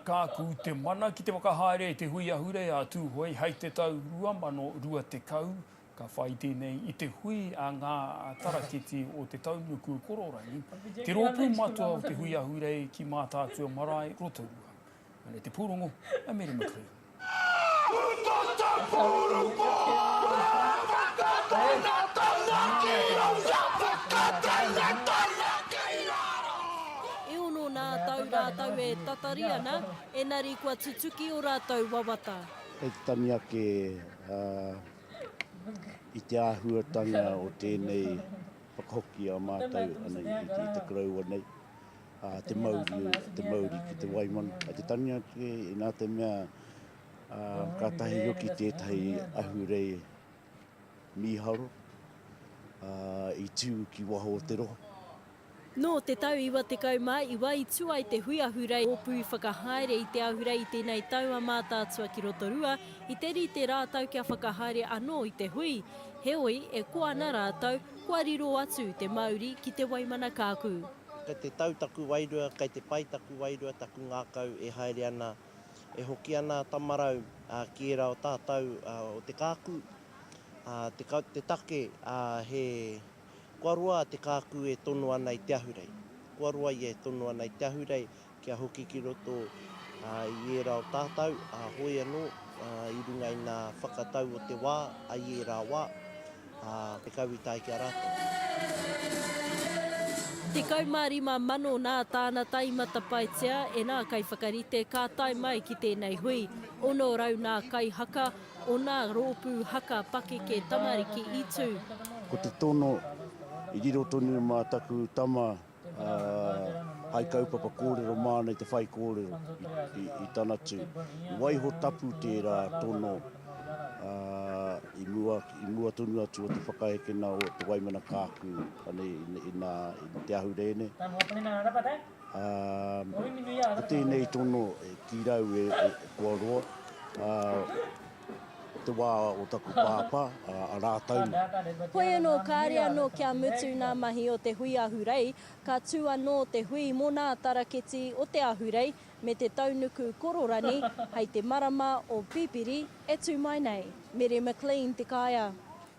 Kāku te mana ki te whakahaere i te hui ahurea a Tūhoe hei te tau 2020. Ka whai tēnei i te hui a ngā tarakiti o Te Taunuku Kororangi, te rōpū matua o te hui ahurei ki Mātaatua Marae, Rotorua. Anei te pūrongo a Meri McLean. E ono nā tau rātou e tatari ana, enari kua tutuki o rātou wawata. Kei te tangi ake i te āhuatanga o tēnei whakahoki a mātou i te koroua nei. te mauri, te mauri ki te waimana, ki te tania ake, inā te mea kātahi hoki tētahi ahurei mīharo i tū ki waho o te rohe. Nō te tau 99 i tū ai te hui ahurei rōpū whakahaere i te ahurei i tēnei tau a Mātaatua ki Rotorua, i te rite rātou kia whakahaere anō i te hui. Heoi, e koa ana rātou, kua riro atu te mauri ki te waimana kāku. Kei te tau taku wairua, kei te pai taku wairua, taku ngākau e haere ana, e hoki ana a Tamarau ki ērā o tātou o te kāku. Te take, he kua roa te kāku e tono ana i te ahurei. Kua roa ia e tono ana i te ahurei, Kia hoki ki roto i ērā o tātau, ā, hoi anō, ā, i runga i ngā whakatau o te wā, ai i ērā wā, ā, te kau i tae ki a rātou. 15 mano nā tāna tae i matapaetia e nā kaiwhakarite ka tae mai ki tēnei hui, 600 nā kai haka o nā rōpū haka pakeke tamariki i tū. Ko te tono, i riro tonu mā taku tama hai kaupapa kōrero māna i te whaikōrero i tana tū. I waiho tapu tērā tono i mua, i mua tonu atu o te whakahekena o te Waimana Kāku ane, i, nā, i te ahurei nei. Ko tēnei tono ki rau e, e, e kua roa. Te wā o taku pāpā, a rātou. Hoi anō, kāre anō kia mutu ngā mahi o te hui ahurei, ka tū anō te hui mō ngā taraketi o te ahurei me te taunuku kororani hei te marama o Pipiri e tū mai nei. Mary McLean, Te Kaea.